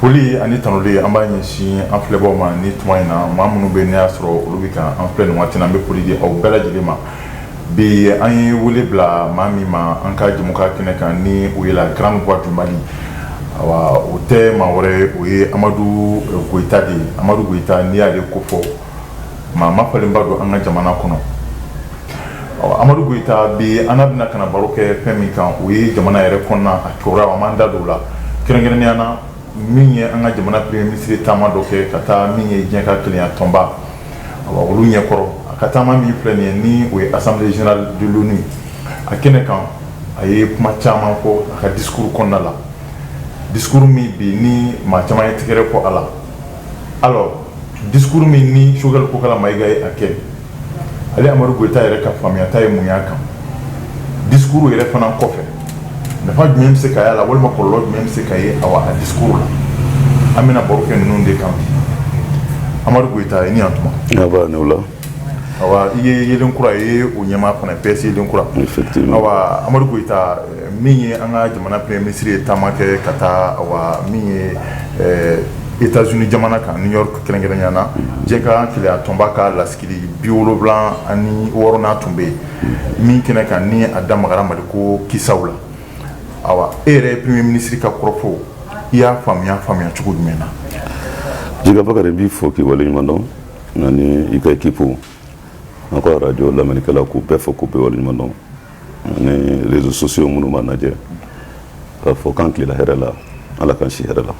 Foli ani tanuli an b'a ɲɛsin an filɛbaaw ma ni tuma in na maa minnu bɛ n y'a sɔrɔ olu bɛ ka an filɛ nin waati in na n bɛ foli di aw bɛɛ lajɛlen ma bi an ye wele bila maa min ma an ka jɛmukan kɛnɛ kan ni o ye la grande voix du mali wa o tɛ maa wɛrɛ o ye amadu koyita de ye amadu koyita n'i y'ale ko fɔ maa ma falenba don an ka jamana kɔnɔ amadu koyita bi an bɛna ka na baro kɛ fɛn min kan o ye jamana yɛrɛ kɔnɔna a cogoya an da dɔw la kɛrɛnkɛrɛnya na min ye an ka jamana premier ministre taama dɔ kɛ ka taa min ye diɲɛ ka kelenya tɔnba olu ɲɛkɔrɔ a ka taama min filɛ nin ye ni o ye assemblée générale de l'ONU a kɛnɛ kan a ye kuma caman fɔ a ka discours kɔnɔna la discours min bi ni maa caman ye tɛgɛrɛ fɔ a la discours min ni sogɛl kokala mayiga ye a kɛ ale amadu koyita yɛrɛ ka faamuyata ye mun y'a kan discours yɛrɛ fana kɔfɛ nafa jumɛn bɛ se ka ye a la walima kɔlɔlɔ jumɛn bɛ se ka ye awa a discours la an bɛna baro kɛ ninnu de kan amadu koyita i ni tuma la i ye yeelen kura i ye o ɲɛmaa fana PS yeelen kura awa amadu koyita min ye an ka jamana premier ministre ye taama kɛ ka taa min ye états-unis jamana kan new york kɛrɛnkɛrɛnya na diɲɛ ka kelenya tɔnba ka lasigi biwolonwula ani wɔɔrɔnan tun bɛ yen min kɛnɛ kan ni a da magara mali ko kisaw la ayiwa e yɛrɛ premier ministre ka kɔrɔfɔ i y'a faamuya faamuya cogo jumɛn na jɛgɛba n b'i fo k'i waleɲumandɔn ani i ka ekipu an ka arajo lamɛnnikɛlaw k'u bɛɛ fo k'u bɛɛ waleɲuman dɔn ani rezo sosiyo minnu b'an lajɛ k'a fɔ k'an tilenna hɛrɛ la ala k'an si hɛrɛ la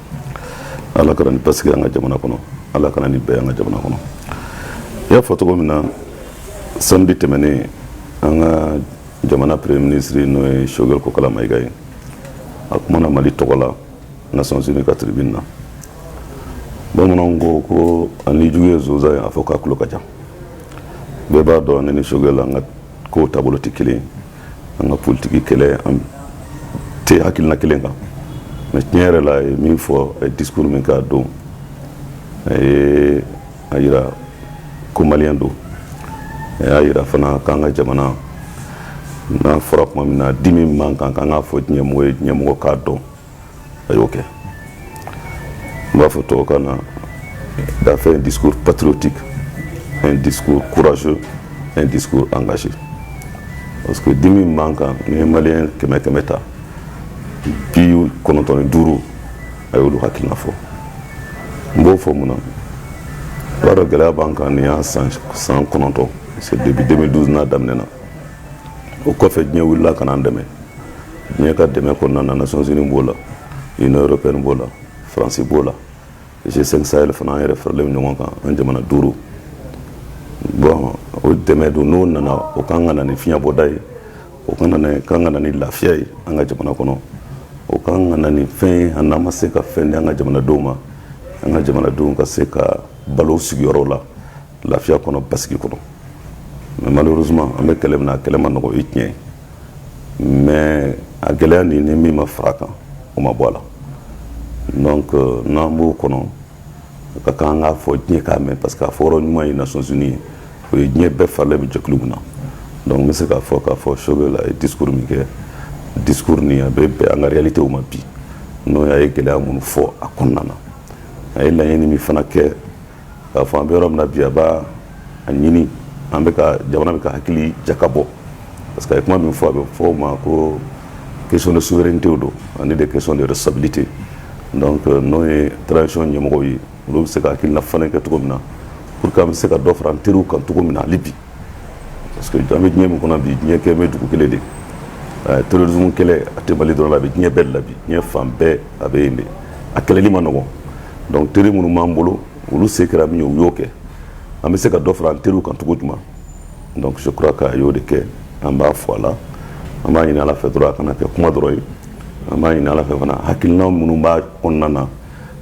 ala ka na ni basigi an ka jamana kɔnɔ ala ka na ni bɛn ye an ka jamana kɔnɔ i y'a fɔ cogo min na samedi tɛmɛnen an ka jamana premier ministre n'o ye sogɛl kokala mayiga ye a kumana mali tɔgɔ la nations unies ka tribune na bamananw ko ko hali n'i jugu ye sonsan ye a fɔ k'a tulo ka jan bɛɛ b'a dɔn ne ni sogɛl an ka kow taabolo tɛ kelen an ka politiki kɛlɛ an tɛ hakilina kelen kan mais tiɲɛ yɛrɛ la a ye min fɔ a ye discours min k'a don a ye a jira ko maliyɛn don a y'a jira fana k'an ka jamana n'a fɔra tuma min na dimi min b'an kan k'an k'a fɔ diɲɛmɔgɔ ye diɲɛmɔgɔ k'a dɔn a y'o kɛ n b'a fɔ tubabukan na il a fait un discours patriotique un discours courageux un discours engagé parce que dimi min b'an kan n'i ye maliyɛn kɛmɛ kɛmɛ ta bi kɔnɔntɔn ni duuru a y'olu hakilina fɔ n b'o fɔ mun na i b'a dɔn gɛlɛya b'an kan nin y'a san san kɔnɔntɔn parce que depuis 2012 n'a daminɛna o kɔfɛ diɲɛ wulila ka n'an dɛmɛ diɲɛ ka dɛmɛ kɔnɔna na nations unies b'o la union européenne b'o la france b'o la g5 sahel fana an yɛrɛ faralen ɲɔgɔn kan an jamana duuru bon o dɛmɛ don n'o nana o ka kan ka na ni fiɲɛbɔda ye o ka kan ka na ni lafiya ye an ka jamana kɔnɔ o ka kan ka na ni fɛn ye an n'an ma se ka fɛn di an ka jamanadenw ma an ka jamanadenw ka se ka balo sigiyɔrɔw la lafiya kɔnɔ basigi kɔnɔ mais malheureusement an bɛ kɛlɛ min na a kɛlɛ man nɔgɔ i tiɲɛ mais a gɛlɛya nin ni min ma fara a kan o ma bɔ a la donc euh, n'an b'o kɔnɔ a ka kan an k'a fɔ diɲɛ k'a mɛn parce que a fɔ yɔrɔ ɲuman ye nations unies ye o ye diɲɛ bɛɛ faralen bɛ jɛkulu min na donc n bɛ se k'a fɔ k'a fɔ Choguel a ye discours min kɛ discours nin a bɛ bɛn an ka réalité ma bi n'o a ye gɛlɛya minnu fɔ a kɔnɔna na a ye laɲini min fana kɛ k'a fɔ an bɛ yɔrɔ min na bi a b'a ɲini an bɛ ka jamana bɛ ka hakili jakabɔ parce que a ye kuma min fɔ a bɛ fɔ o ma ko question de souveraineté don ani de question de responsabilité donc euh, n'o ye transition ɲɛmɔgɔw ye olu bɛ se ka hakilina fana kɛ cogo min na pour que an bɛ se ka dɔ fara an teriw kan cogo min na hali bi parce que an bɛ diɲɛ min kɔnɔ bi diɲɛ kɛlen bɛ dugu kelen de ye terrorisme kɛlɛ a tɛ Mali dɔrɔn la bi diɲɛ bɛɛ de la bi diɲɛ fan bɛɛ a bɛ yen de a kɛlɛli man nɔgɔn donc teri minnu b'an bolo olu se kɛra min ye u y'o kɛ an bɛ se ka dɔ fara an teriw kan cogo jumɛn donc je crois qu'a y'o de kɛ an b'a fɔ a la an b'a ɲini ala fɛ dɔrɔn a kana kɛ kuma dɔrɔn ye an b'a ɲini ala fɛ fana hakilina minnu b'a kɔnɔna na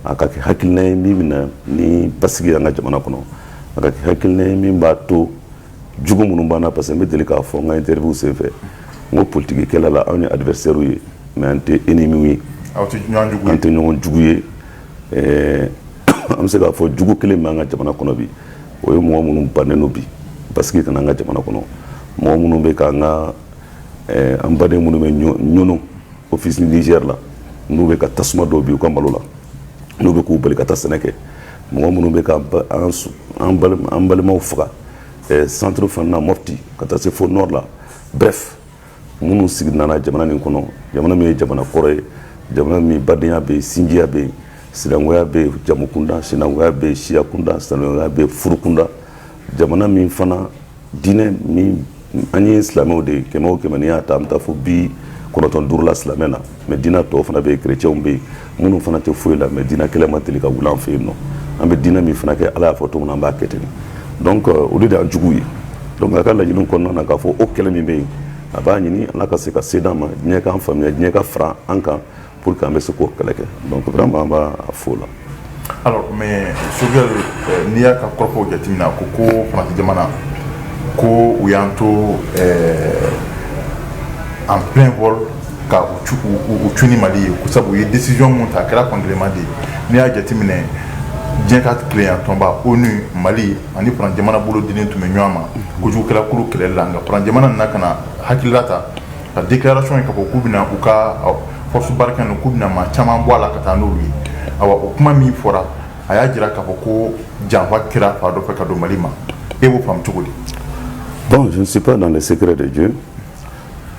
a ka kɛ hakilina ye min bɛ na ni basigi y'an ka jamana kɔnɔ a ka kɛ hakilina ye min b'a to jugu minnu b'an na parce que n bɛ deli k'a fɔ n ka interview senfɛ n ko politiki kɛlɛ la anw ye adversaires ye mais an tɛ ennemis ye anw tɛ ɲɔgɔn jugu ye an tɛ ɲɔgɔn jugu ye ɛɛ an bɛ se k'a fɔ jugu kelen bɛ an ka jamana kɔnɔ bi o ye mɔgɔ minnu bannen don bi basigi ka na an ka jamana kɔnɔ mɔgɔ minnu bɛ k'an ka ɛɛ an baden minnu bɛ Niono Office du Niger la n'u bɛ ka tasuma don bi u ka malo la n'u bɛ k'u bali ka taa sɛnɛ kɛ mɔgɔ minnu bɛ ka an balimaw faga centre fana na Mopti ka taa se fo nord la bref minnu sigi nana jamana nin kɔnɔ jamana min ye jamana kɔrɔ ye jamana min badenya bɛ yen sinjiya bɛ yen sinankunya bɛ yen jamukunda sinankunya bɛ yen siyakunda sinankunya bɛ yen furukunda jamana min fana diinɛ min an ye silamɛw de ye kɛmɛ o kɛmɛ n'i y'a ta an bɛ taa fo bi kɔnɔntɔn duuru la silamɛ la mais diinɛ tɔw fana bɛ yen kerecɛnw bɛ yen minnu fana tɛ foyi la mais diinɛ kɛlɛ ma deli ka wuli an fɛ yen non an bɛ diinɛ min fana kɛ ala y'a fɔ cogo min na an b'a kɛ ten donc euh, olu de y'an juguw ye donc a ka laɲiniw kɔnɔna na k'a fɔ o kɛlɛ min bɛ yen a b'a ɲini ala ka se ka se d'an ma diɲɛ k'an faamuya diɲɛ ka fara an kan pour que an bɛ se k'o kɛlɛ kɛ donc vraiment an b'a fo la alors mais Choguel euh, n'i y'a ka kɔrɔfɔw jateminɛ a ko ko Faransi jamana ko u y'an to euh, en plein vol ka u cun ni Mali ye ko sabu u ye décision min ta a kɛra fankelenma de ye n'i y'a jateminɛ diɲɛ ka kelenya tɔnba onu mali ani Faransi jamana bolo dilen tun bɛ ɲɔgɔn ma kojugukɛla kulu kɛlɛli la nka Faransi jamana nana ka na hakilila ta ka déclaration kɛ k'a fɔ k'u bɛna u ka force Barkhane k'u bɛna maa caman bɔ a la ka taa n'olu ye awa o kuma min fɔra a y'a jira k'a fɔ ko janfa kɛra fan dɔ fɛ ka don Mali ma e b'o faamu cogo di bon je ne suis pas dans les secrets des dieux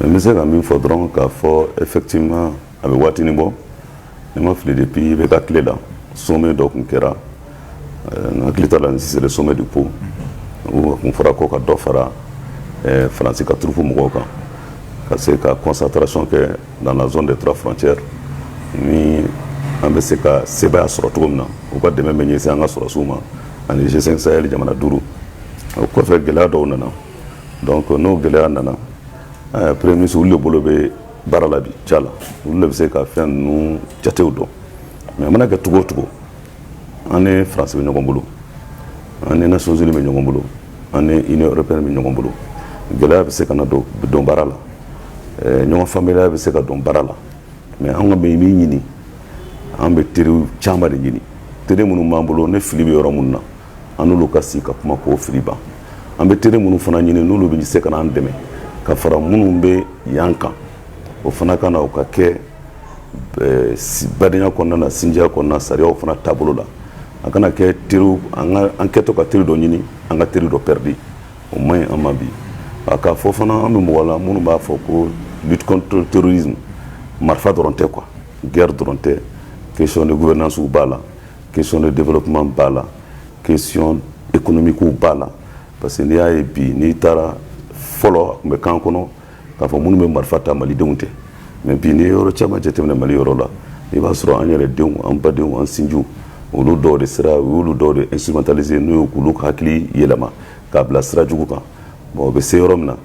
mais n bɛ se ka min fɔ dɔrɔn k'a fɔ effectivement a bɛ waatinin bɔ ni n ma fili dɛ bi i bɛ ka tile la sommet dɔ tun kɛra n hakili t'a la si c'est sommet de Pau tun fɔra ko ka dɔ fara faransi ka troupes mɔgɔw kan ka se ka concentration kɛ dans la zone des trois frontières an bɛ se ka seya sɔrɔ cogo min na u ka dɛmɛ bɛ ɲɛsin an ka sɔrɔdasiw ma ani G5 Sahel jamana duuru o kɔfɛ gɛlɛya dɔw nana don n'o gɛlɛya nana premier ministre bolo bɛ baara la bi ca la olu de bɛ se ka fɛn ninnu jatew dɔn mais a mana kɛ cogo o cogo an ni faransi bɛ ɲɔgɔn bolo an ni nations unies bɛ ɲɔgɔn bolo an ni union européenne bɛ ɲɔgɔn bolo gɛlɛya bɛ se ka na don don baara la ɲɔgɔn faamubaliya bɛ se ka don baara la mais an ka bɛ min ɲini an bɛ teri caman de ɲini teri minnu b'an bolo ni fili bɛ yɔrɔ minnu na an n'olu ka sigi ka kuma k'o fili ban an bɛ teri minnu fana ɲini n'olu bɛ se ka an dɛmɛ ka fara minnu bɛ yan kan o fana ka na o ka kɛ eh, badenya kɔnɔna na sinjiya kɔnɔna sariyaw fana taabolo la a kana kɛ teriw an ka an kɛtɔ ka teri dɔ ɲini an ka teri dɔ pɛridi o man ɲi an ma bi a k'a fɔ fana an bɛ mɔgɔ la minnu b'a fɔ ko lutte contre le terrorisme marifa dɔrɔn tɛ quoi guerre dɔrɔn tɛ question de gouvernance b'a la question de développement b'a la question économique b'a la parce que n'i y'a ye bi n'i taara fɔlɔ a tun b'an kɔnɔ k'a fɔ minnu bɛ marifa ta malidenw tɛ mais bi n'i ye yɔrɔ caman jateminɛ mali yɔrɔ la i b'a sɔrɔ an yɛrɛ denw an badenw an sinjiw olu dɔw de sera u y'olu dɔw de instrumentaliser n'u ye k'olu hakili yɛlɛma k'a bila sira jugu kan bon o bɛ se yɔrɔ min na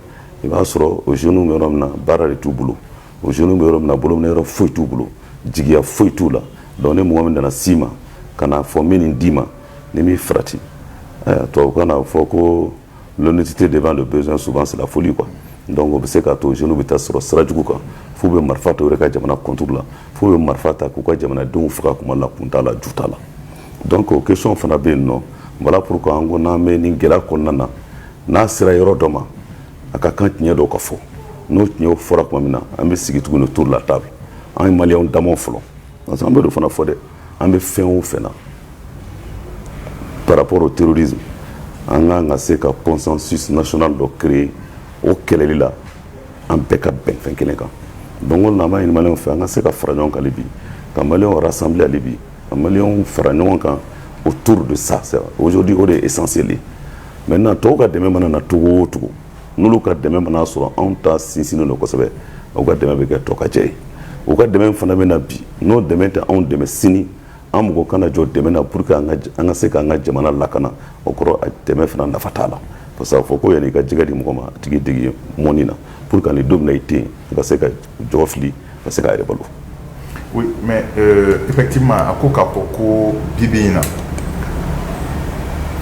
i b'a sɔrɔ o jeunes bɛ yɔrɔ min na baara de t'u bolo o jeunes bɛ yɔrɔ min na bolominɛ yɔrɔ foyi t'u bolo jigiya foyi t'u la donc ni mɔgɔ min nana s'i ma ka nafolonin d'i ma n'i m'i farati tubabukan na fɔ ko l'honnêteté devant le besoin souvent c'est la folie quoi donc o bɛ se k'a to jeunes bɛ taa sɔrɔ sira jugu kan f'u bɛ marifa ta u yɛrɛ ka jamana contre la f'u bɛ marifa ta k'u ka jamanadenw faga kuma la kun t'a la ju t'a la donc o question fana bɛ yen nɔ voilà pourquoi an ko n'an bɛ nin gɛlɛya kɔnɔna na n'a sera yɔrɔ dɔ ma a ka kan tiɲɛ dɔw ka fɔ n'o tiɲɛ fɔra tuma min na an bɛ sigi tuguni autour de la table an ye mali da fɔlɔ parce que an bɛ don fana fɔ dɛ an bɛ fɛn o fɛ na parapro teri an ka kan ka se ka consensus dɔ kɛ o kɛlɛli la an bɛɛ ka bɛn fɛn kelen kan don na an ma ɲini fɛ an ka se ka fara ɲɔgɔn kan bi ka mali sanbi ale bi Ka maliyɛnw fara ɲɔgɔn kan autour de ça c'est vrai aujourd'hui o de ye essentiel ye maintenant tɔw ka dɛmɛ mana na cogo o cogo n'olu ka dɛmɛ mana sɔrɔ anw ta sinsinnen don kosɛbɛ u ka dɛmɛ bɛ kɛ tɔ ka jɛ ye u ka dɛmɛ fana bɛ na bi n'o dɛmɛ tɛ anw dɛmɛ sini an mago kana jɔ dɛmɛ na pour que an ka se k'an ka jamana lakana o kɔrɔ a dɛmɛ fana nafa t'a la parce que a fɔ ko yan'i ka jɛgɛ di mɔgɔ ma a tigi dege mɔnni na pour que ni don min na i tɛ yen i ka se ka jɔ fili ka se k'i yɛrɛ balo oui mais euh, effectivement a ko k'a fɔ ko bi bi in na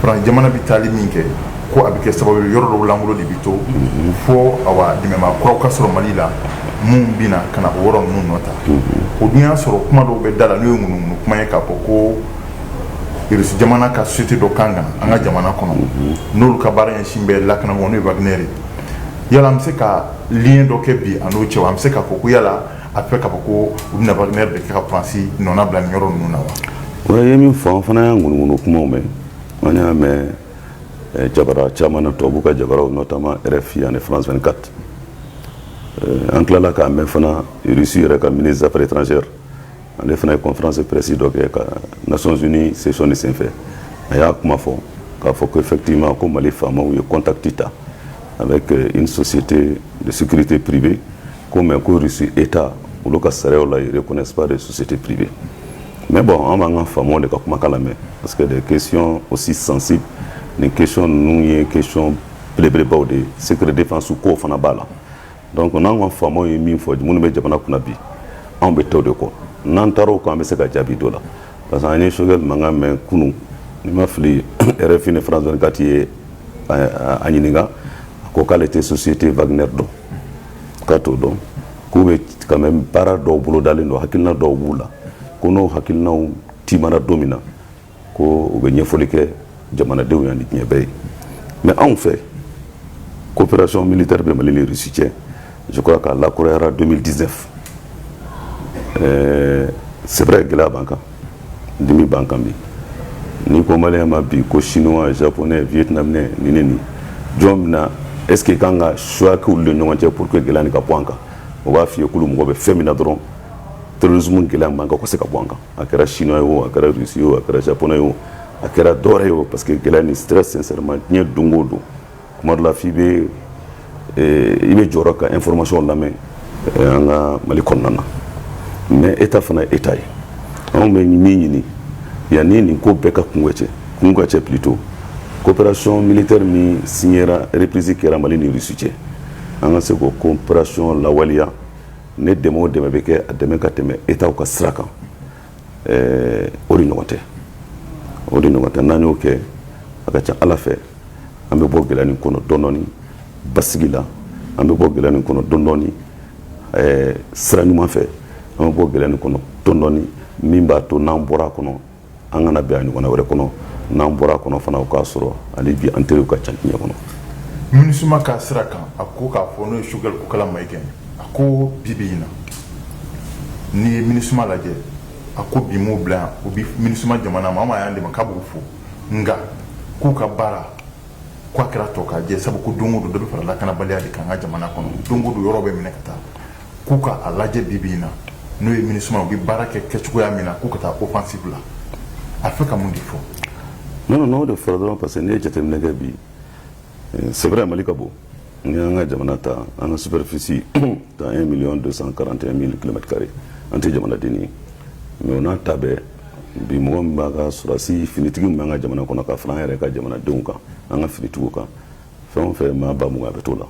France jamana bɛ taali min kɛ ko a bɛ kɛ sababu ye yɔrɔ dɔw lankolon de bɛ to mhm. fo awa dɛmɛbaa kuraw ka sɔrɔ Mali la minnu bɛ na ka na o yɔrɔ ninnu nɔ ta mhm. o dun y'a sɔrɔ kuma dɔw bɛ da la n'o ye ŋunuŋunu kuma ye k'a fɔ ko irisi jamana ka société dɔ ka kan ka na an ka jamana kɔnɔ n'olu ka baara ɲɛsinnen bɛ lakana ma n'o ye wagner ye yala an bɛ se ka lien dɔ kɛ bi a n'o cɛ an bɛ se k'a fɔ ko yala a bɛ k'a fɔ ko u bɛna Wagner de kɛ ka France nɔnabila nin yɔrɔ ninnu na wa a ye min fɔ an fana y'a ŋunuŋunu kumaw mɛn an y'a mɛn eh, jabara caman na tubabuw ka jabaraw notamment RFI ani France 24 eh, an tilala k'a mɛn fana Russie yɛrɛ ka ministre des affaires étrangères ale fana ye conférence presse dɔ kɛ ka Nations Unies session de senfɛ a y'a kuma fɔ k'a fɔ ko effectivement ko Mali faamaw ye contact ta avec euh, une société de sécurité privée ko mais ko Russie état olu ka sariyaw la ils reconnaissent pas de société privée mais bon an b'an ka faamaw de ka kumakan lamɛn parce que des questions aussi sensibles nin question ninnu ye question belebelebaw de ye secret défense kow fana b'a la donc anw ka faamaw ye min fɔ minnu bɛ jamana kunna bi anw bɛ t'o de kɔ n'an taara o kan an bɛ se ka jaabi d'o la parce que an ye Choguel Maïga mɛn kunun ni n ma fili RFI ni France 24 y'a ɲininka a ko k'ale tɛ société Wagner dɔn k'a t'o dɔn k'u bɛ quand même baara dɔw bolodalen don hakilina dɔw b'u la ko n'o hakilinaw tiimɛna don min na ko u bɛ ɲɛfɔli kɛ jamanadenw ye ani diɲɛ bɛɛ ye mais anw fɛ coopération militaire bɛ mali ni russie cɛ je crois k'a lakurayara 2019 ɛɛ c'est vrai gɛlɛya b'an kan dimi b'an kan bi n'i ko maliyɛn ma bi ko chinois japonais vietnamien ni ne ni jɔn bɛna est ce que i ka kan ka choix k'olu ni ɲɔgɔn cɛ pour que gɛlɛya nin ka bɔ an kan o b'a f'i ye k'olu mago bɛ fɛn min na dɔrɔn terrorisme gɛlɛya mankan ka se ka bɔ an kan a kɛra chinois ye o a kɛra russe ye o a kɛra japonais ye o a kɛra dɔwɛrɛ ye o parce que gɛlɛya ni stress sincèrement diɲɛ don o don tuma dɔ la f'i bɛ eh, i bɛ jɔrɔ ka information lamɛn eh, an ka mali kɔnɔna na mais état fana ye état ye anw bɛ min ɲini yanni nin ko bɛɛ ka kuncɛ kun ka cɛ plutôt coopération militaire min signera reprise kɛra mali ni russie cɛ an ka se k'o coopération lawaleya ni dɛmɛ o dɛmɛ bɛ kɛ a dɛmɛ ka tɛmɛ état ka sira kan o de ɲɔgɔn tɛ o de ɲɔgɔn tɛ n'an y'o kɛ a ka ca ala fɛ an bɛ bɔ gɛlɛya nin kɔnɔ dɔɔni dɔɔni basigi la an bɛ bɔ gɛlɛya nin kɔnɔ dɔɔni dɔɔni sira ɲuman fɛ an bɛ bɔ gɛlɛya nin kɔnɔ dɔɔni dɔɔni min b'a to n'an bɔra a kɔnɔ an kana bin a ɲɔgɔnna wɛrɛ kɔnɔ n'an bɔra kɔnɔ fana o k'a sɔrɔ hali bi an teriw ka ca diɲɛ kɔnɔ minisuma ka sira kan a ko k'a fɔ n'o ye choguel kokalla maïga a ko bi bi in na n'i ye minisuma lajɛ a ko bi m'o bila yan o bi minisuma jamana ma an ma y'an dɛmɛ k'a b'u fo nka k'u ka baara k'a kɛra tɔkajɛ sabu ko don o don dɔ bɛ fara lakanabaliya de kan an ka jamana kɔnɔ don o don yɔrɔ bɛ minɛ ka taa k'u ka a lajɛ bi bi in na n'o ye minisuma u bɛ baara kɛ kɛcogoya min na k'u ka taa offensive la a fɛ ka mun de fɔ non non n'o de fɔra dɔrɔn parce que n'i ye jateminɛ kɛ bi eh, c'est vrai mali ka bon n'i y'an ka jamana ta an ka superficie ta 1 million 241 mille kilomètre carré an tɛ jamanadenni ye mais o n'a ta bɛɛ bi mɔgɔ min b'a ka sɔrɔdasi finitigi min b'an ka jamana kɔnɔ ka fara an yɛrɛ ka jamanadenw kan an ka finitigiw kan fɛn fɛn maa ba mugan a bɛ to la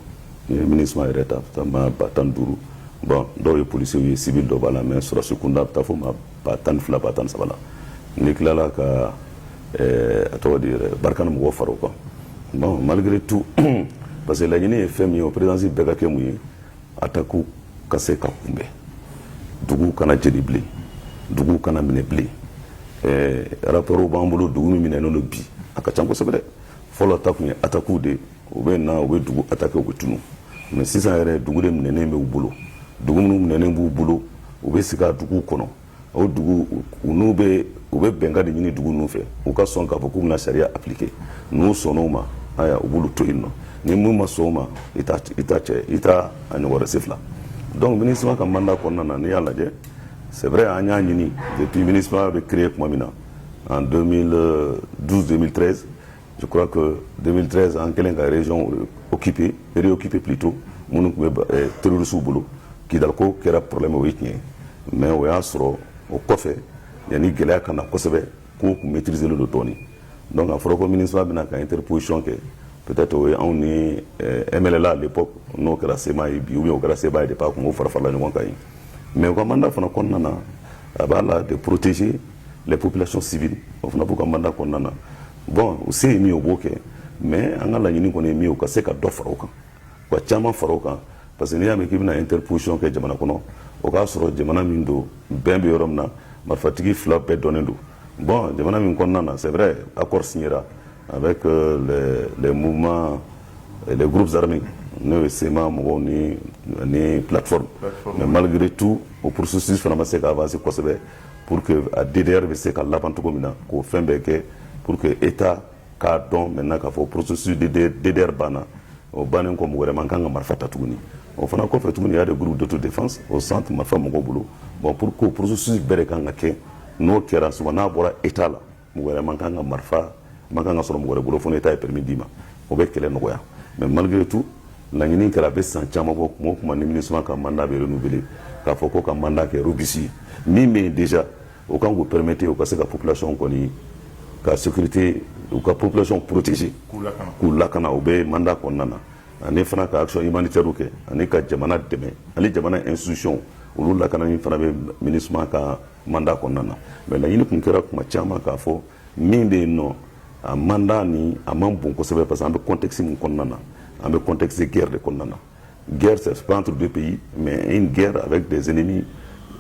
n'i ye minisuma yɛrɛ ta ta maa ba tan ni duuru bon dɔw ye polisiw ye civil dɔ b'a la mais sɔrɔdasi kunda bɛ taa fo maa ba tan ni fila ba tan ni saba la n'i tilala ka eh, a tɔgɔ di yɛrɛ barkhane mɔgɔ fara o kan bon malgré tout parce que laɲini ye fɛn min ye o présence bɛɛ ka kɛ mun ye atakiw ka se ka kunbɛn dugu kana jeni bilen dugu kana minɛ bilen eh, rapportw b'an bolo dugu min minɛnen don bi a ka ca kosɛbɛ dɛ fɔlɔ ta tun ye atakiw de u bɛ na u bɛ dugu atake u bɛ tunun mais sisan yɛrɛ dugu de minɛnen bɛ u bolo dugu minnu minɛnen b'u bolo u bɛ sigi a dugu kɔnɔ o dugu n'u bɛ u bɛ bɛnkan de ɲini dugu ninnu fɛ u ka sɔn k'a fɔ k'u bɛna sariya appliquer n'u sɔn'o ma ayiwa u b'olu to yen nɔ ni minnu ma sɔn o ma i t'a kɛ i t'a ɲɔgɔn wɛrɛ siɲɛ fila donc minisuma ka mandat kɔnɔna na n'i y'a lajɛ c'est vrai an y'a ɲini depuis minisuma bɛ créer tuma min na en 2012-2013 je crois que 2013 an kɛlen ka région occupée réoccuper plutôt minnu tun bɛ eh, terrorisiw bolo kidal ko kɛra problème o ye tiɲɛ mais o y'a sɔrɔ o kɔfɛ yanni gɛlɛya ka na kosɛbɛ kow tun maîtriselen don dɔɔni donc a fɔra ko minisuma bɛna ka interposition kɛ peut-être o ye anw ni eh, MNLA à l'époque n'o kɛra CMA ye bi ou bien o kɛra CMA ye depuis a tun b'o fara farala ɲɔgɔn kan yen Mais u ka mandat fana kɔnɔna na a b'a la de protéger les populations civiles o fana b'u ka mandat kɔnɔna na bon u se ye min ye u b'o kɛ mais an ka laɲini kɔni min u ka se ka dɔ fara kan ka caman fara o kan parce que n'i y'a mɛn k'i bɛna interposition kɛ jamana kɔnɔ o y'a sɔrɔ jamana min don bɛn bɛ yɔrɔ min na marifatigi fila bɛɛ dɔnnen don bon jamana min kɔnɔna na c'est vrai accord signéra A bɛ le muma le guruzarime n'o ye sema mɔgɔw ni ni pforo mɛ malikiri tu o porosi fana ma se k'fasi kosɛbɛ pur que a di yɛrɛ bɛ se ka laban cogo min na k'o fɛn bɛɛ kɛ pur que e ta k'a dɔn mɛ na k'a fɔ porosi didre banna o bannen kɔ wɛrɛ man kan ka marifa ta tuguni o fana kɔfɛ tuguni y'a de guru dɔtu de o san tun marifa mɔgɔw bolo bɔn pur que porosi bɛɛ de kan ka kɛ n'o kɛra s n'a bɔra e t'a la mɔgɔ wɛrɛ man kan ka marifa man kan ka sɔrɔ mɔgɔ wɛrɛ bolo fo n'État ye permis d'i ma o bɛ kɛlɛ nɔgɔya mais malgré tout laɲini kɛra a bɛ san caman bɔ kuma o kuma ni MINUSMA ka mandat bɛ renouveler k'a fɔ ko ka mandat kɛ robuste min bɛ yen déjà o kan k'u permettre u ka se ka population kɔni ka sécurité u ka population protéger k'u lakana o bɛ mandat kɔnɔna na ani fana ka action humanitaire kɛ ani ka jamana dɛmɛ ani jamana institution olu lakanani fana bɛ MINUSMA ka mandat kɔnɔna na mais laɲini tun kɛra kuma caman k'a fɔ min bɛ yen nɔ a mandat nin a man bon kosɛbɛ parce que an bɛ contexte min kɔnɔna na an bɛ contexte guerre de kɔnɔna na guerre c'est pas entre deux pays mais une guerre avec des ennemis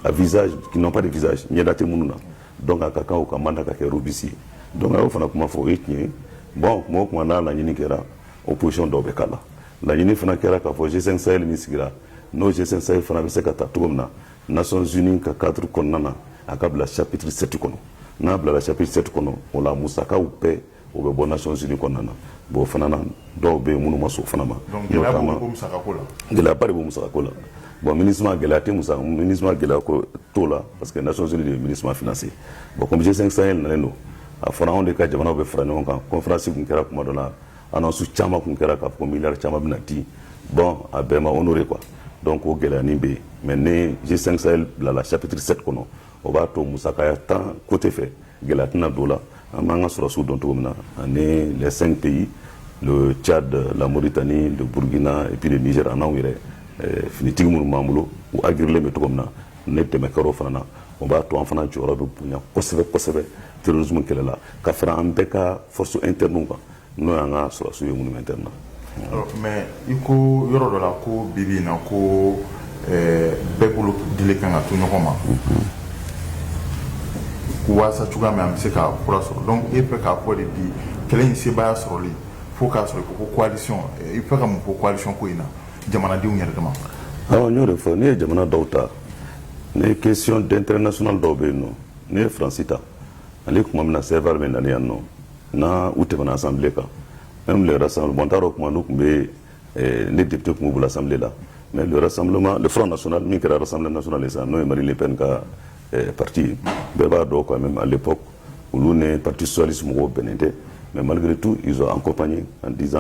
à visage qui n'ont pas de visage ɲɛda tɛ minnu na donc a ka kan u ka mandat ka kɛ robuste donc a y'o fana kuma fɔ o ye tiɲɛ ye bon kuma o kuma n'a laɲini kɛra opposition dɔw bɛ k'a la laɲini fana kɛra k'a fɔ G5 Sahel min sigira n'o G5 Sahel fana bɛ se ka ta cogo min na Nations Unies ka cadre kɔnɔna na a ka bila chapitre 7 kɔnɔ n'a bilala chapitre 7 kɔnɔ o la musakaw bɛɛ o bɛ bɔ Nations Unies kɔnɔna na bon o fana na dɔw bɛ yen minnu ma sɔn o fana ma gɛlɛyaba de bɛ musakako la bon MINUSMA gɛlɛya tɛ musaka MINUSMA gɛlɛya ko t'o la parce que Nations Unies de bɛ MINUSMA financer bon comme G5 Sahel nalen don a fɔra anw de ka jamanaw bɛ fara ɲɔgɔn kan conférence tun kɛra tuma dɔ la Annonce caman tun kɛra k'a fɔ ko miliyari caman bɛna di bon a bɛɛ ma honorer quoi donc o gɛlɛyanin bɛ yen mais ni G5 Sahel bilala chapitre 7 kɔnɔ o b'a to musakaya ta côté fɛ gɛlɛya tɛna don o la an b'an ka sɔrɔdasiw dɔn cogo min na ani les cinq pays le Tchad, la Mauritanie, le Burkina et puis le Niger ani anw yɛrɛ eh, finitigi minnu b'an bolo u aguerrilen bɛ cogo min na ni dɛmɛ kɛra o fana na o b'a to an fana jɔyɔrɔ bɛ bonya kosɛbɛ kosɛbɛ terrorisme kɛlɛ la ka fara an bɛɛ ka force interne kan N'o y'an ka sɔrɔdasiw ye monumentale la. Ɔɔ mais i ko yɔrɔ dɔ la ko bi bi in na ko ɛɛ bɛɛ bolo dilen kan ka to ɲɔgɔn ma. Unhun. Waasa cogoya min an bɛ se ka fura sɔrɔ donc e fɛ k'a fɔ de bi kɛlɛ in sebaaya sɔrɔli fo k'a sɔrɔ i ko ko coalition i bɛ fɛ ka mun fɔ coalition ko in na jamanadenw yɛrɛ dama? Awɔ n y'o de fɔ, n'i ye jamana dɔw ta, ni question d'intérêt national dɔw bɛ yen nɔ, n'i ye France ta, Mali tuma min na Serval nalen yan nɔ, n u tɛmɛna Assemblée kan n yɛrɛ san bɔn taara o kuma n' tun bɛ ne de tun b' bolo Assemblée la mais yɛrɛ san Front national min kɛra san nas de sa n'o ye Marine Le Pen ka parti bɛɛ b'a dɔn ko Marine Le Pen olu ni parti socialiste mɔgɔw bɛnnen tɛ mais malgré tout an kop ye an diz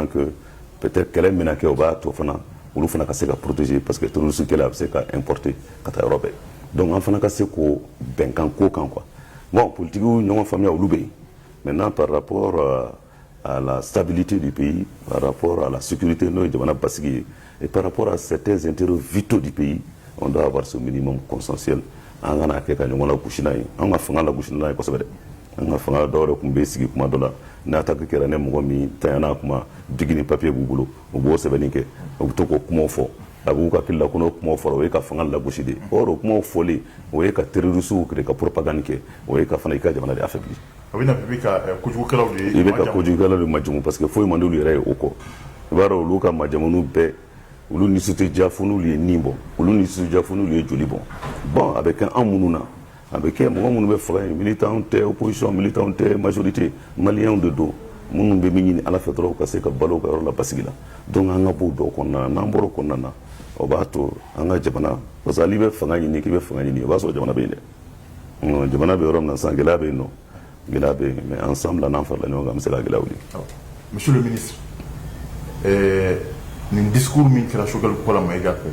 pte kɛlɛ min kɛ o b'a to fana olu fana ka se ka protéger parce que terrorisme là a bɛ se ka exporter ka taa yɔrɔ bɛɛ donc an fana ka se ko bɛnkan ko kan que bon politigiw ɲɔgɔn faamuya olu bɛ yen Maintenant, par rapport euh, à la stabilité du pays, par rapport à la sécurité n'o ye jamana basigi ye, et par rapport à certains intérêts vitaux du pays, on doit avoir ce minimum consensuel. an kana kɛ ka ɲɔgɔn lagosi n'a ye an ka fanga lagosi n'a ye kosɛbɛ dɛ an ka fanga dɔw yɛrɛ tun bɛ sigi kuma dɔ la ni attaque kɛra ni mɔgɔ min tanyana kuma biki ni papiye b'u bolo u b'o sɛbɛnni kɛ u bɛ to k'o kuma fɔ a b'u hakili la k'o kuma fɔlen o ye ka fanga lagosi de o kuma fɔlen o ye ka terroristew ka propagande kɛ o ye ka fana i ka jamana affaiblir a bɛ i bɛ ka kojugukɛlaw de majamu parce que foyi man di olu yɛrɛ ye o kɔ i b'a dɔn olu ka majamu bɛɛ olu nisɔndiya fɛnw ye nibɔ olu nisɔndiya fɛnw ye jolibɔn bon a bɛ kɛ anw minnu na A bɛ kɛ mɔgɔ minnu bɛ fanga in militant tɛ opposition militant tɛ majorité Malienw de don minnu bɛ min ɲini ala fɛ dɔrɔn ka se ka balo ka yɔrɔ la basigi la donc an ka bɔ o dɔw kɔnɔna na n'an bɔra o kɔnɔna na o b'a to an ka jamana parce que hali i bɛ fanga ɲini k'i bɛ fanga ɲini o b'a sɔrɔ jamana bɛ yen dɛ jamana bɛ yɔrɔ min na san gɛlɛya bɛ yen nɔ gɛlɛya bɛ yen mais ensemble la n'an farala ɲɔgɔn kan an bɛ se ka gɛlɛya wuli. monsieur le ministre ɛɛ nin discours min kɛra Choguel Kola Mayiga fɛ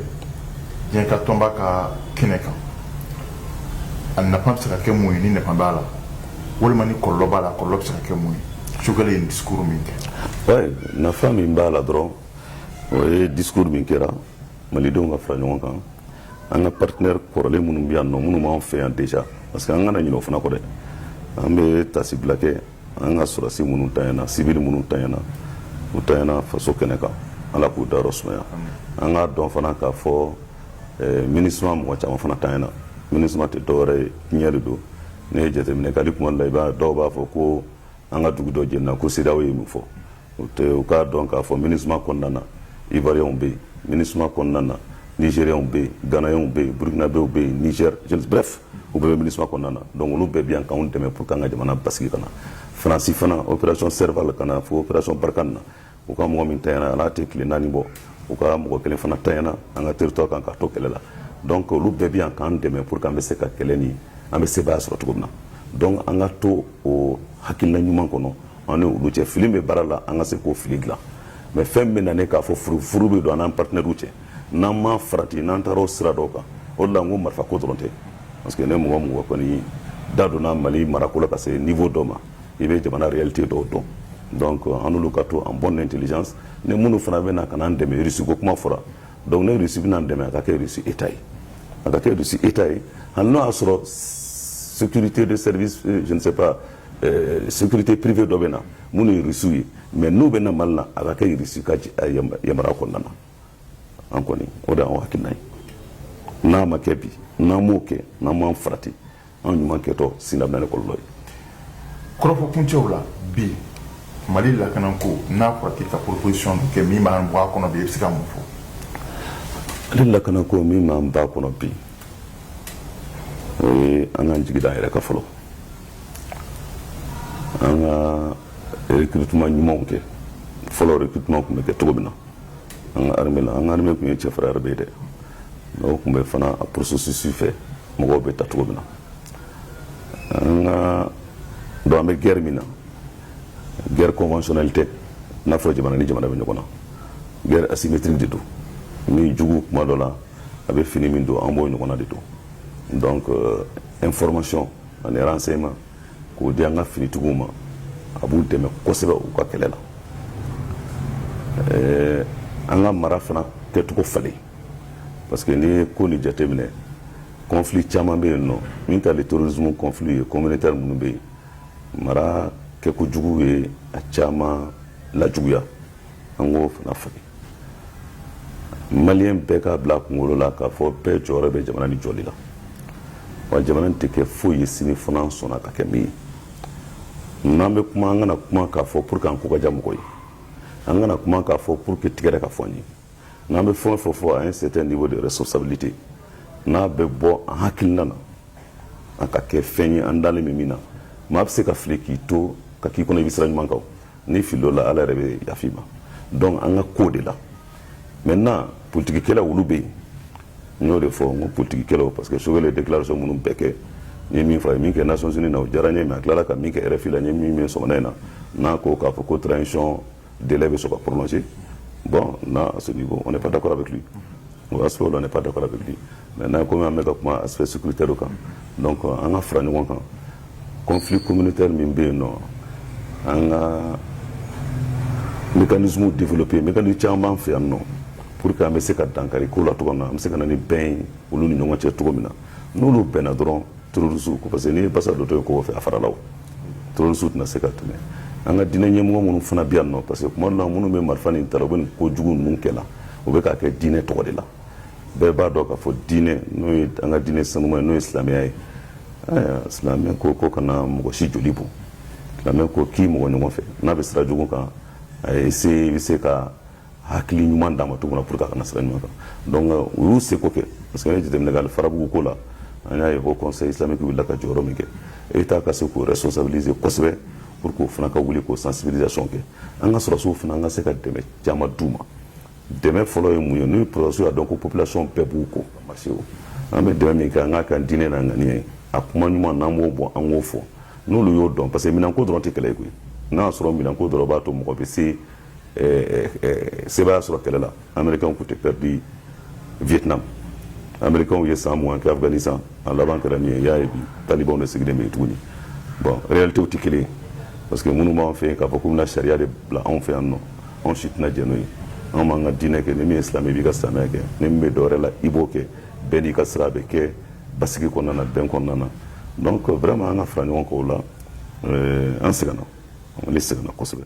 diɲɛ ka tɔnba ka kɛnɛ kan a nafa bɛ se ka kɛ mun ye ni nafa b'a la walima ni kɔlɔlɔ b'a la kɔlɔlɔ bɛ se ka kɛ mun ye Choguel ye nin discours min kɛ. oui nafa min b'a la dɔrɔn o ye discours min kɛra malidenw ka fara ɲɔgɔn kan. an ka partenaire kɔrɔlen minnu bɛ yan nɔ minnu b'an fɛ yan déjà parce que an kana ɲinɛ o fana kɔ dɛ an bɛ taasibila kɛ an ka sɔrɔdasi minnu tanyana sivili minnu tanyana u tanyana faso kɛnɛ kan ala k'u dayɔrɔ sumaya an k'a dɔn fana k'a fɔ eh, MINUSMA mɔgɔ caman fana tanyana MINUSMA tɛ dɔwɛrɛ ye diɲɛ de don ne ye jateminɛ kɛ hali kuma la i b'a dɔw b'a fɔ ko an ka dugu dɔ jenina ko CEDEAO ye min fɔ u tɛ u k'a dɔn k'a fɔ minisma kɔnɔna na ivuwariyɛnw bɛ yen minisma kɔnɔna na nizeriyɛnw bɛ yen ganayɛnw bɛ yen burukinabew bɛ yen nizɛri brɛf u bɛɛ bɛ minisma kɔnɔna na donc olu bɛɛ bɛ yan k'anw dɛmɛ pour que an ka jamana basigi ka na faransi fana opération serval ka na fo opération barkhane na u ka mɔgɔ min tanyana a la a tɛ tile naani bɔ u ka mɔgɔ kelen fana tanyana an ka territoire kan k'a to kɛlɛ la donc olu bɛɛ bɛ yan k'an dɛmɛ pour que an bɛ se ka kɛlɛ ni an bɛ sebaaya sɔrɔ cogo min na donc an ka to o hakilina ɲuman kɔnɔ an ni olu cɛ fili bɛ baara la an ka se k'o fili dilan mais fɛn bɛ na ne k'a fɔ furu bɛ don an n'an partenairew cɛ n'an ma farati n'an taara o sira dɔw kan o la ko marifa ko dɔrɔn tɛ parce que ni mɔgɔ mɔgɔ kɔni da donna mali marako la ka se niveau dɔ ma i bɛ jamana réalité dɔw dɔn donc an ka to en bons termes ni minnu fana bɛ na ka an dɛmɛ irisiko kuma fɔra donc ni irisi bɛna an dɛmɛ a ka kɛ irisi état ye a ka kɛ irisi état ye hali n'o y'a sɔrɔ société de sɛbɛnpba Euh, sécurité privée dɔ bɛ na minnu ye rusiw ye mais n'u bɛ na mali la a ka kɛ rusi ka euh, yamaruya kɔnɔna na an kɔni o de y'an hakilina ye n'a ma kɛ bi n'an m'o kɛ n'an ma farati an ɲuman kɛtɔ sini a bɛ na ni kɔlɔlɔ ye kɔrɔfɔ kuncɛw la bi mali lakananko n'a fɔra k'i ka proposition dɔ kɛ min b'an bɔ a kɔnɔ bi i bɛ se ka mun fɔ ale lakananko min b'an bɔ a kɔnɔ bi o ye an k'an jigi da an yɛrɛ kan fɔlɔ an ka recrutement ɲumanw kɛ fɔlɔ recrutement tun bɛ kɛ cogo min na an ka armée la an ka armée tun ye cɛfarin armée ye dɛ mais o tun bɛ fana a processus fɛ mɔgɔw bɛ ta cogo min na an ka donc an bɛ guerre min na guerre conventionnelle tɛ i n'a fɔ jamana ni jamana bɛ ɲɔgɔn na guerre asymétrique de don ni jugu tuma dɔ la a bɛ fini min don an b'o ɲɔgɔnna de don donc euh, information ani renseignement k'o di an ka finitigiw ma a b'u dɛmɛ kosɛbɛ u ka kɛlɛ la ɛɛ an ka mara fana kɛcogo falen parce que n'i ye ko nin jateminɛ conflit caman bɛ yen n'o man kan ni terrorisme conflit ye communautaire minnu bɛ yen mara kɛko jugu ye a caman lajuguya an k'o fana falen maliyɛn bɛɛ k'a bila kunkolo la k'a fɔ bɛɛ jɔyɔrɔ bɛ jamana nin jɔli la wa jamana tɛ kɛ foyi ye sini fo an sɔnna k'a kɛ min ye n'an bɛ kuma an kana kuma k'a fɔ pour que an ko ka diya mɔgɔ ye an kana kuma k'a fɔ pour que tɛgɛrɛ ka fɔ an ye n'an bɛ fɛn o fɛn fɔ à un certain niveau de responsabilité n'a bɛ bɔ an hakilina na a ka kɛ fɛn ye an dalen bɛ min na maa bɛ se ka fili k'i to ka k'i kɔnɔ i bɛ sira ɲuman kan ni filo la ala yɛrɛ bɛ yafi ma dɔn an ka ko de la mɛ na ptigikɛla olu bɛ yen n y'o de fɔ n ko ptigikɛlaw parce que sokɛ delarasɔn minnu bɛɛ kɛ ye min fɔ ye min kɛ na sɔs na o diyara ɲɛ min a tilara ka min kɛ yɛrɛ fila ye min min so in na n'a ko k'a fɔ ko taara icɔn de bɛ sɔrɔ ka pmasi bɔn n'a sɔn ko ne pa da kɔrɔ bɛ kili o y'a sɔrɔ on n'est pas d'accord avec lui maintenant comme an bɛ ka kuma aspect sécuritaire kan donc an ka fara ɲɔgɔn kan conflit communautaire min bɛ yen nɔ an ka mécanisme développé mécanisme caman b'an fɛ yan nɔ pour que an bɛ se ka dankari ko la cogo min na an bɛ se ka na ni bɛn ye olu ni ɲɔgɔn cɛ cogo min na n'olu bɛnna dɔrɔn terrorisiw ko parce que n'i ye basa dontɔ ye kogo fɛ a farala o terrorisiw tɛna se ka tɛmɛ an ka diinɛ ɲɛmɔgɔ minnu fana bɛ yan nɔ parce que tuma dɔ la minnu bɛ marifa nin ta u bɛ nin ko jugu ninnu kɛ la u bɛ k'a kɛ diinɛ tɔgɔ de la bɛɛ b'a dɔn k'a fɔ diinɛ n'o ye an ka diinɛ sanuma ye n'o ye silamɛya ye silamɛ ko k'i kana mɔgɔ si joli bɔn silamɛ ko k'i mɔgɔ ɲɔgɔn fɛ n'a bɛ sira jugu kan a ye se i bɛ se ka hakili ɲuman d'a ma cogo min na pour que a ka na sira ɲuman kan donc u y'u seko kɛ parce que n'i ye jateminɛ kɛ farabugu ko la an y'a ye ko conseil islamique wulila ka jɔyɔrɔ min kɛ Etat ka se k'u responsabiliser kosɛbɛ pour que o fana ka wuli k'o sensibilisation kɛ an ka sɔrɔdasiw fana an ka se ka dɛmɛ caman d'u ma dɛmɛ fɔlɔ ye mun ye n'o ye sɔrɔdasiw y'a dɔn ko population bɛɛ b'u kɔ ka marché o an bɛ dɛmɛ min kɛ an k'a kɛ an diinɛ n'a ŋaniya ye a kuma ɲuman n'an b'o bɔ an k'o fɔ n'olu y'o dɔn parce que minɛnko dɔrɔn tɛ kɛlɛ ye koyi n'a y'a sɔrɔ minɛnko dɔrɔn b'a to mɔgɔ bɛ se sebaaya sɔrɔ kɛlɛ la américain tun tɛ pɛridi vietnam américain ye san mugan kɛ afghanistan a laban kɛra min ye y'a ye bi talibanw de sigilen bɛ yen tuguni bon réalité tɛ kelen ye parce que minnu b'an fɛ yen k'a fɔ k'u bɛna sariya de bila anw fɛ yan nɔ anw si tɛna jɛn n'o ye anw b'an ka diinɛ kɛ ni min ye silamɛ i b'i ka silamɛya kɛ ni min bɛ dɔwɛrɛ la i b'o kɛ bɛɛ n'i ka sira a bɛ kɛ basigi kɔnɔna na bɛn kɔnɔna na donc vraiment an ka fara ɲɔgɔn kan o la euh, an sɛgɛnna ne sɛgɛnna kosɛbɛ